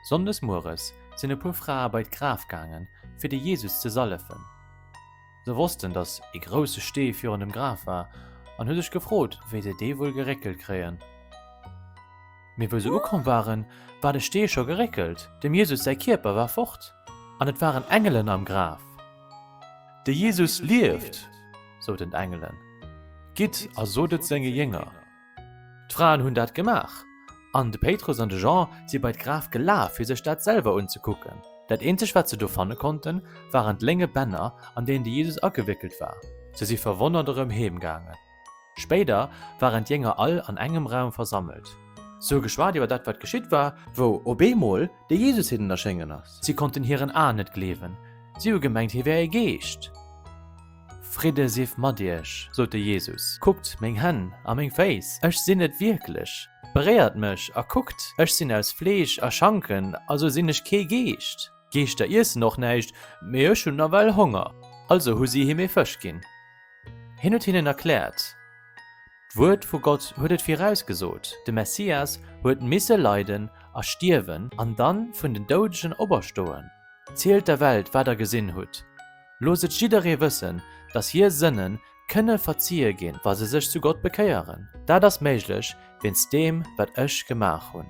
Sonndes mueres sinn e puer Frae bei d'Graf gaangen, fir de Jesus ze sallefen. Se wossten, datt e grousse Stee virun dem Graf war an hu sech gefrot, wéi se dee wuel geréckelt kréien. Mee wou se ukomm waren, war de Stee scho geréckelt, dem Jesus säi Kierper war fort an et waren Engelen am Graf. De Jesus lieft! soten d'Engelen. Gitt a sot et senge Jénger. D'Fraen hunn dat gemaach, an de Péitrus an de Jean si bei d'Graf gelaf, fir sech dat selwer unzekucken. Dat eenzegt, wat se do fanne konnten, waren d'lénge Bänner, an deenen de Jesus agewéckelt war. Se si verwonnert erëm heemgaangen. Spéider waren d'Jénger all an engem Raum versammelt. Si hu geschwat iwwer dat, wat geschitt war, wou op eemol de Jesus hinnen erschéngen ass. Si konnten hiren Aen net gleewen. Si hu gemengt, hie wär e Geescht. Fridde sief mat iech, sot de Jesus. Kuckt meng Hänn a meng Féiss, ech sinn et wierklech. Beréiert mech a kuckt, ech sinn aus Fleesch a Schanken, also sinn ech kee Geescht. D'Geeschter iessen och näischt, mee ech hunn nawell Honger, also hu si him ee Fësch ginn. Hien huet hinnen erkläert, D'Wuert vu Gott huet et virausgesot, de Messias huet misse leiden a stierwen an dann vun den Doudegen operstoen. Zielt der Welt, wat der gesinn hutt. Loosst et jidderee wëssen, datt hier Sënne kënne verziehe ginn, wa se sech zu Gott bekéieren. Dat ass méiglech wéinst deem, wat ech gemaach hunn.